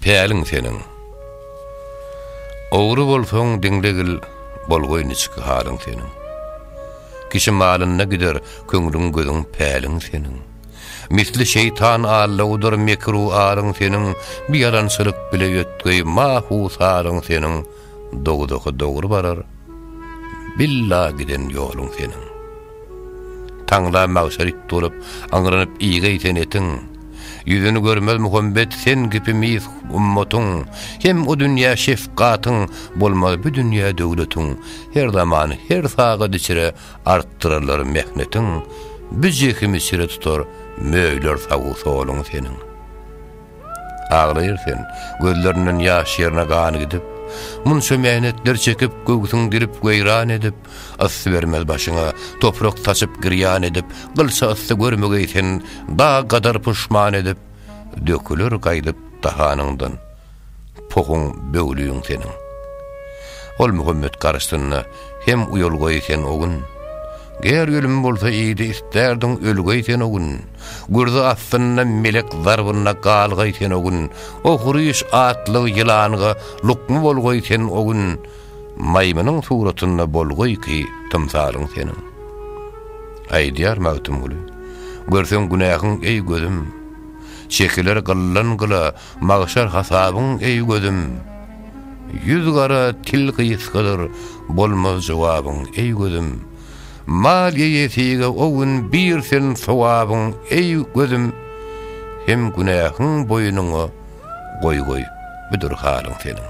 Päliň seniň. Ogry bolsaň diňlegil, bolgoý niçik halyň seniň. Kişi malynda gider köňlüň gözüň päliň seniň. Misli şeýtan allawdyr mekru aryň seniň, bir ýalançylyk bile ýötgeý mahu saryň seniň, dowzaha dogry barar, billa giden ýoluň seniň. Taňla magşar it bolup, aňrynyp iýgäý sen etiň. Ýüzüni görmez Muhammet sen kipi mis ummatyň. Hem o dünýä şefgatyň, bolmaz bu dünýä döwletiň. Her zaman, her sagat içre artdyrarlar mehnetiň. Bu jehimi çire tutar, möýler sag-u soluň seniň. Aglaýar sen, gözlerinden ýaş ýerine gan gidip, Munça mähnetler çekip, göwsüň dilip, weýran edip, Yssy bermez başyňa, toprak saçyp, girýan edip, Gylça yssy görmegeý sen, dag gadar puşman edip, Döküler gaýdyp dahanyňdan. Puhuň böwlügiň seniň. Ol Muhammet garşysynda hem uýalgaý sen o gün. Ger ölüm bolsa idi istärdin ölgäý sen o gün. Gürzi astynda melek zarbynda galgaý sen o gün. Ohryş atly ýylanga lukma bolgaý sen o gün. Maýmynyň suratynda bolgaý ki tymsalyň seniň. Aýdýar Magtymguly. Görseň günähiň eý gözüm. Çekiler gyllan gyla. Magşar hasabyň eý gözüm, Ýüz gara til gysgadyr, Bolmaz jogabyň eý gözüm. Mal eýesige o gün bir sen sogabyň eý gözüm, Hem günähiň boýnuňa goý goý, Budur halyň seniň.